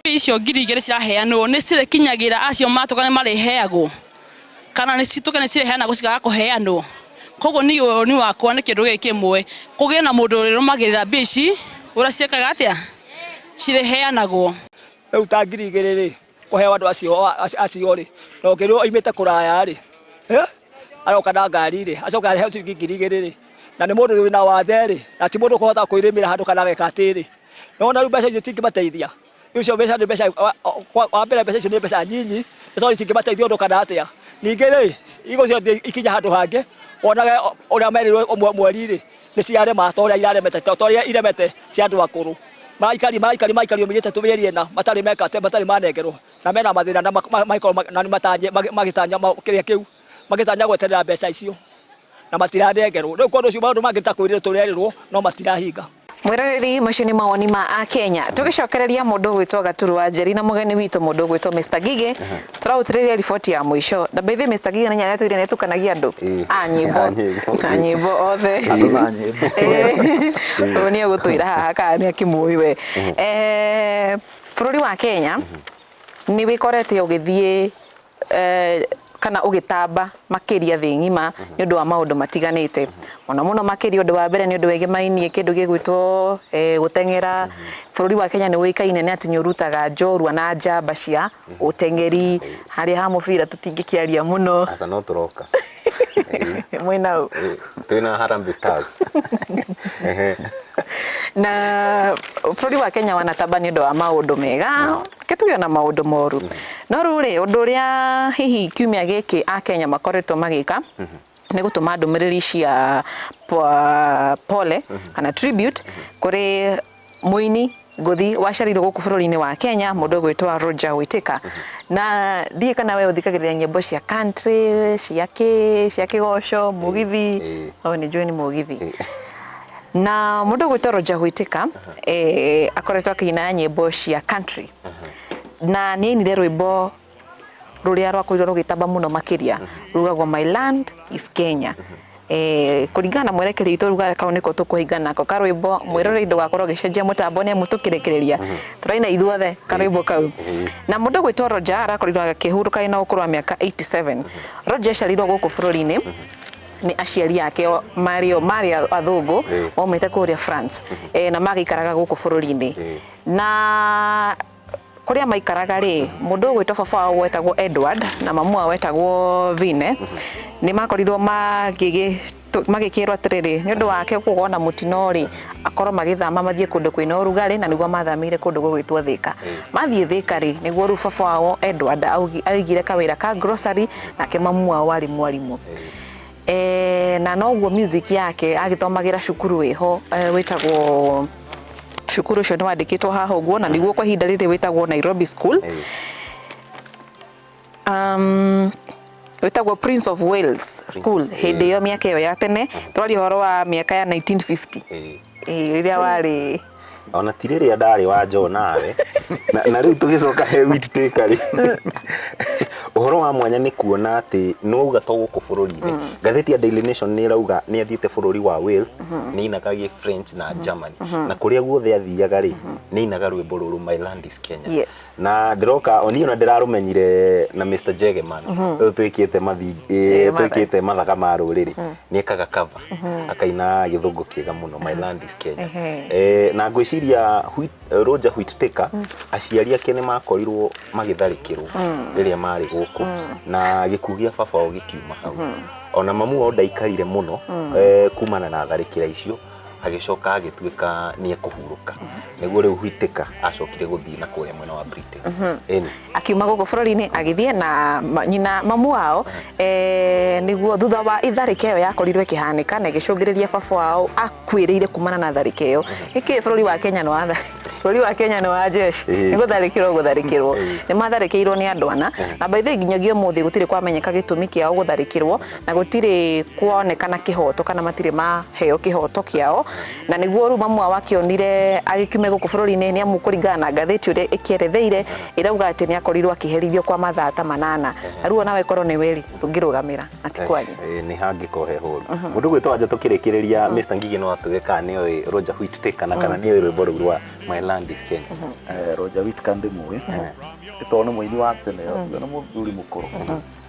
Speaker 7: Mbia icio ngiri igĩrĩ
Speaker 8: ciraheanwo nĩ cirĩkinyagĩra acio matũka nĩ marĩheagwo kana nĩ citũke nĩ cireheanagwo cikaga kũheanwo koguo niĩ ũni wakwa nĩ kĩndũ gĩkĩ kĩmwe kũgĩe na mũndũ ũrĩrũmagĩrĩra mbia ici ũrĩa ciekaga atĩa cirĩheanagwo rĩu
Speaker 9: ta ngiri igĩrĩ rĩ kũheo andũ acio acio rĩ na ũngĩ rĩu aimĩte kũraya rĩ aroka na ngari rĩ acoka aheo ciringi ngiri igĩrĩ rĩ na nĩ mũndũ wĩna wathe rĩ na ti mũndũ ũkũhota kwĩrĩmĩra handũ kana ageka atĩrĩ No na mbeca icio tingĩmateithia. Icio mbeca nĩ mbeca wa mbere mbeca icio nĩ mbeca nyinyi nĩ tondũ cingĩmateithia ũndũ kana atĩa. Ningĩ rĩ igũcio ikinya handũ hangĩ wonage ũrĩa merirwo ũmwe mweri rĩ nĩ ciarema to ũrĩa iraremete to ũrĩa iremete cia andũ akũrũ. Maikari maikari maikari mĩgĩte mĩeri ĩna matarĩ meka atĩ matarĩ manengerwo na mena mathĩna na magĩkorwo na matanye magĩtanya kĩrĩa kĩu magĩtanya gweterera mbeca icio na matiranengerwo. Rĩu kwa ũndũ ũcio maũndũ mangĩ ta kwĩrĩrwo tũrerĩrwo no matirahinga. Mwĩroreri, macio
Speaker 2: nĩ mawoni ma Akenya. Tũgĩcokereria mũndũ ũgwĩtwo Gaturu wa Njeri na mũgeni witũ mũndũ ũgwĩtwo Mr. Ngigĩ, tũragũtirĩria riboti ya mũico. Na by the way Mr. Ngigĩ nĩ nyamũ ĩratwĩrire nĩ ĩtukanagia andũ? A nyĩmbo. A nyĩmbo. A nyĩmbo othe. Andũ na
Speaker 4: nyĩmbo. Ũyũ nĩ egũtwĩra
Speaker 2: haha kana nĩ akĩmũĩ we. Bũrũri wa Kenya nĩ wĩkorete ũgĩthiĩ eh, kana ũgĩtamba makĩria thĩ ng'ima mhm. nĩ ũndũ wa maũndũ matiganĩte mhm. mũno mũno makĩria ũndũ wa mbere nĩ ũndũ wegemainie kĩndũ gĩgwĩtwo eh, gũteng'era mhm. bũrũri wa Kenya nĩ ũĩkaine nĩ atĩ nĩ ũrutaga njorua na njamba cia ũteng'eri harĩa ha mũbira tũtingĩkĩaria mũno mwena u Eh, turi na
Speaker 3: harambe stars Ehe.
Speaker 2: na bũrũri wa kenya wanatamba nĩ ũndũ wa maũndũ mega ke tuge na maũndũ moru no rĩu rĩ ũndũ ũrĩa hihi kiumia gĩkĩ a kenya makoretwo magĩka nĩ gũtũma ndũmĩrĩri cia po- pole kana tribute kũrĩ Mũini ngũthi waciarirwo gũkũ bũrũri-inĩ wa Kenya mũndũ ũgwĩtwa Roger Whittaker na ndiĩ kana we ũthikagĩrĩria nyĩmbo cia country cia kĩ cia kĩgoco mũgithi o nĩ njũĩ nĩ mũgithi na mũndũ ũgwĩtwa Roger Whittaker eh, akoretwo akĩina nyĩmbo cia country na nĩ ainire rwĩmbo rũrĩa rwakorirwo rũgĩtamba mũno makĩria rugagwo my land is kenya Eh, kũringana na mwerekeri witũ ruga kau nĩko tũkũhinga nako karwĩmbo mwĩrorei ndũgakorwo ũgĩcenjia mũtambo nĩ amu tũkĩrekereria tũraina ithuothe karwĩmbo kau na mũndũ gwĩtwo roja arakorirwo akĩhurũka arĩ na ũkũrũ wa mĩaka 87 roja aciarirwo gũkũ bũrũri-inĩ nĩ aciari ake o- marĩ o- marĩ a- athũngũ maumĩte kũrĩa france Eh, na magaikaraga gũkũ bũrũri-inĩ na kũrĩa maikaraga rĩ mũndũ ũgwĩtwo baba wao gwetagwo Edward na mamu wao wetagwo Vine nĩ makorirwo magĩkĩrwo atĩrĩrĩ nĩ ũndũ wake gũkorwo na mũtino rĩ akorwo magĩthama mathiĩ kũndũ kwĩna ũrugarĩ na nĩguo mathamĩire kũndũ gũgwĩtwo Thĩka mathiĩ Thĩka rĩ nĩguo rĩu baba wao Edward aigire kawĩra ka grocery nake mamu wao arĩ mwarimũ. Eh, na noguo music yake agĩthomagira cukuru iho eh, witagwo cukuru ucio ni wandikitwo haha uguo na niguo kwa ihinda riri witagwo Nairobi School um, witagwo Prince of Wales School hindi iyo miaka iyo ya tene twaria horo wa miaka ya 1950 eh, riria wari ona ti rĩrĩa
Speaker 3: ndarĩ wa njoo nawe na, na rĩu tũgĩcoka he wit taker rĩ ũhoro wa mwanya nĩ kuona atĩ nĩ wauga to gũkũ bũrũri-inĩ ngathĩti ya Daily Nation nĩ ĩrauga nĩ athiĩte bũrũri wa Wales nĩ ainaga gĩ French na Germany na kũrĩa guothe athiaga rĩ nĩ ainaga rwĩmbo rũrũ My Land is Kenya Yes. na ndĩroka oniĩ ona ndĩrarũmenyire na Mr Jegeman ũyũ twĩkĩte mathi Eh, eh, matha- twĩkĩte mathaga ma rũrĩrĩ nĩ ekaga cover akaina gĩthũngũ kĩega mũno My Land is Kenya. Ehe. Eh, na ngwĩciria Whit- Roger Whittaker aciari ake nĩ makorirwo magĩtharĩkĩrwo rĩrĩa marĩ gũkũ na gĩkuũ gĩa baba wao gĩkiuma hau ona mamu wao ndaikarire mũno eh, kumana na tharĩkĩra icio agĩcoka agĩtuĩka nĩ ekũhurũka nĩguo rĩu Whittaker acokire gũthiĩ na kũrĩa mwena wa Britain Ĩni. Akiuma gũkũ bũrũri-inĩ agĩthiĩ na nyina mamu wao eh, nĩguo thutha wa itharĩka ĩyo yakorirwo ĩkĩhanĩka na ĩgĩcũngĩrĩria baba wao akuĩrĩire kumana na tharĩka ĩyo nĩkĩ bũrũri wa Kenya nĩ wa bũrũri wa Kenya nĩ wa jeshi Ĩĩ. nĩ gũtharĩkĩrwo gũtharĩkĩrwo nĩ matharĩkĩirwo nĩ andũ ana na by the way nginyagia ũmũthĩ gũtirĩ kwamenyeka gĩtũmi kĩao gũtharĩkĩrwo na gũtirĩ kuonekana kĩhoto kana matirĩ maheo kĩhoto kĩao na nĩguo rĩu mamu wao akĩonire agĩkiume gũkũ bũrũri-inĩ nĩ amu kũringana na ngathĩti ũrĩa ĩkĩeretheire ĩrauga atĩ nĩ akorirwo akĩherithio kwa mathaa ta manana na rĩu onawe korwo nĩwe rĩ ndũngĩrũgamĩra na ti kwanyu Eh, nĩ hangĩkorwo he hũru mũndũ gwĩtwo anja tũkĩrĩkĩrĩria mr ngigi no atwĩre kana nĩ oĩ roger whit take kana kana nĩ oĩ rwĩmbo rũu rwa my land is kenya Eh, Roger Whittaker
Speaker 4: ndĩmũĩ ĩtoo nĩ mũini wa tene ũyũ nĩ mũthuri mũkũrũ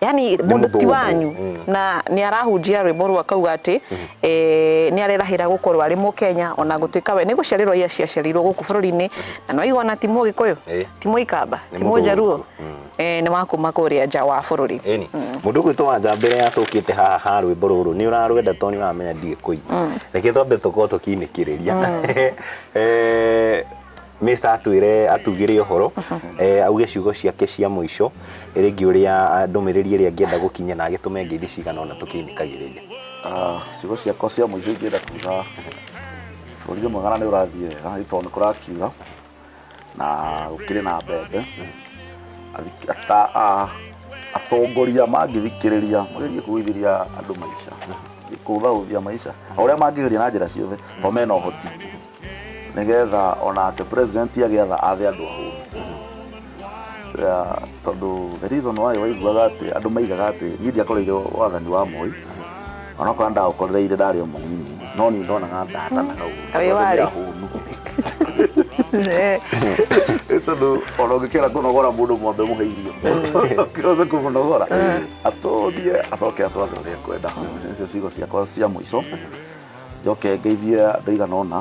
Speaker 4: yani mundu ti wanyu na ni arahunjia rwimbo rwa kauga ati eh, ni arerahira gukorwo ari mu Kenya ona gutuika we ni guciarirwo ia ciaciarirwo guku bururi-ini na no igona ti mu gikuyu Eh. ti mu ikamba Nĩ ti mu njaruo mũthũngũ. eh, ni wa kuma kuria nja wa bururi Eni. Mundu ũguo twa nja mbere ya tũkĩte haha ha rwĩmbo rũrũ nĩ ũrarwenda tondũ nĩ ũramenya ndiĩ kũi. Reke twambe tũkorwo tũkĩinĩkĩrĩria. Eh, Mr. atwĩre atugĩre ũhoro eh, auge ciugo ciake cia mũico rĩngĩ ũrĩa ndũmĩrĩri ĩrĩa angĩenda gũkinya na agĩtũme ngeithi cigana ona tũkĩinĩkagĩrĩria Ah, ciugo ciakwa cia mũico ingĩenda kuga bũrũri ũyũ mwega na nĩ ũrathiĩ wega nĩ tondũ nĩ kũrakiura na gũkĩrĩ na mbembe Athik- ata- a- atongoria mangĩthikĩrĩria magerie kũgũithĩria andũ maica kũũthaũthia maica o ũrĩa mangĩgeria na njĩra ciothe o mena ũhoti nĩgetha onake president agĩatha athe andũ ahũnu Ya, tondũ the reason why waiguaga atĩ andũ maigaga atĩ niĩ ndiakoreire wathani wa moi onakorwo ndaũkorereire ndarĩ o mũnini no niĩ ndonaga ndathanaga ũũru. Wĩ warĩ? Nĩ ahũnu. Eh, Nĩ tondũ ona ũngĩkĩra kũnogora mũndũ mwambe mũhe irio acoke othe kũmũnogora atũrie acoke atwathe ũrĩa kwenda icio cigo ciakwa cia mũico njoke ngeithie andå igana ona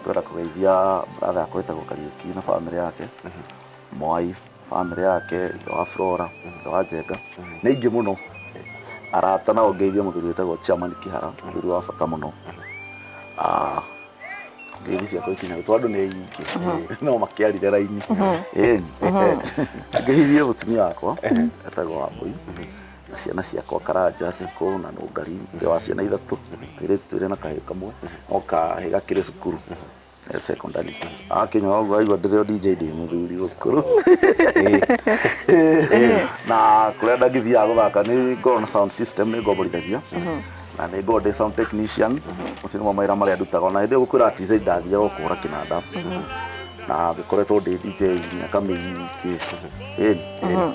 Speaker 4: twenda kå geithia bratha yakwa ĩtagwo kariuki na bamĩrĩ yake mwai bamĩrĩ yake ithe wa flora ithe wa njenga nä ingä må no arata nao ngeithie må thuri wĩtagwo chiamani kihara må thuri wa bata må no ngeithi ciakwa ikinya gwitå andå nä ingä no makä arire raini ngehithie må tumia wakwa etagwo wambå na ciana ciakwa karanja cikũ na nũngari ithe wa ciana ithatũ twĩrĩtu twĩrĩ na kahĩũ kamwe no kahĩ gakĩrĩ cukuru eh, secondary akinyora ũguo aigua ndĩrĩ o dj ndĩ mũthuri ũkũrũ na kũrĩa ndangĩthiaga gũthaka nĩ ngorwo na sound system nĩ ngomborithagia na nĩ ngorwo ndĩ sound technician ũcio nĩmo mawĩra marĩa ndutaga ona hĩndĩ ĩyo gũkwĩra atĩ zai ndathiaga gũkũhũra kĩnanda na ngĩkoretwo ndĩ dj miaka mĩingĩ Ĩni.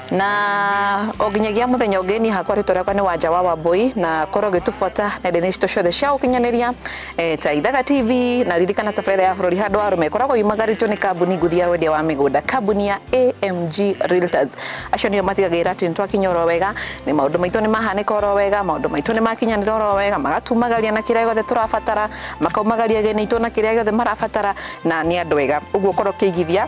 Speaker 3: na
Speaker 2: o nginyagia muthenya ungi ni hakwa ritwa riakwa ni wanja wa wambui na korwo gitufuata nenda-ini citu ciothe cia ukinyaniria e, ta ithaga tv na ririkana tabarira ya bururi handu arume koragwo yumagarito ni kambuni nguthi ya wendia wa migunda kambuni ya amg realtors acio nio matigagira ati nitwakinya oro wega ni maundu maitu ni mahanika oro wega maundu maitu ni makinyanira oro wega magatumagaria na kiria giothe turabatara makaumagaria gene itu na kiria giothe marabatara na ni andu wega uguo korwo kiigithia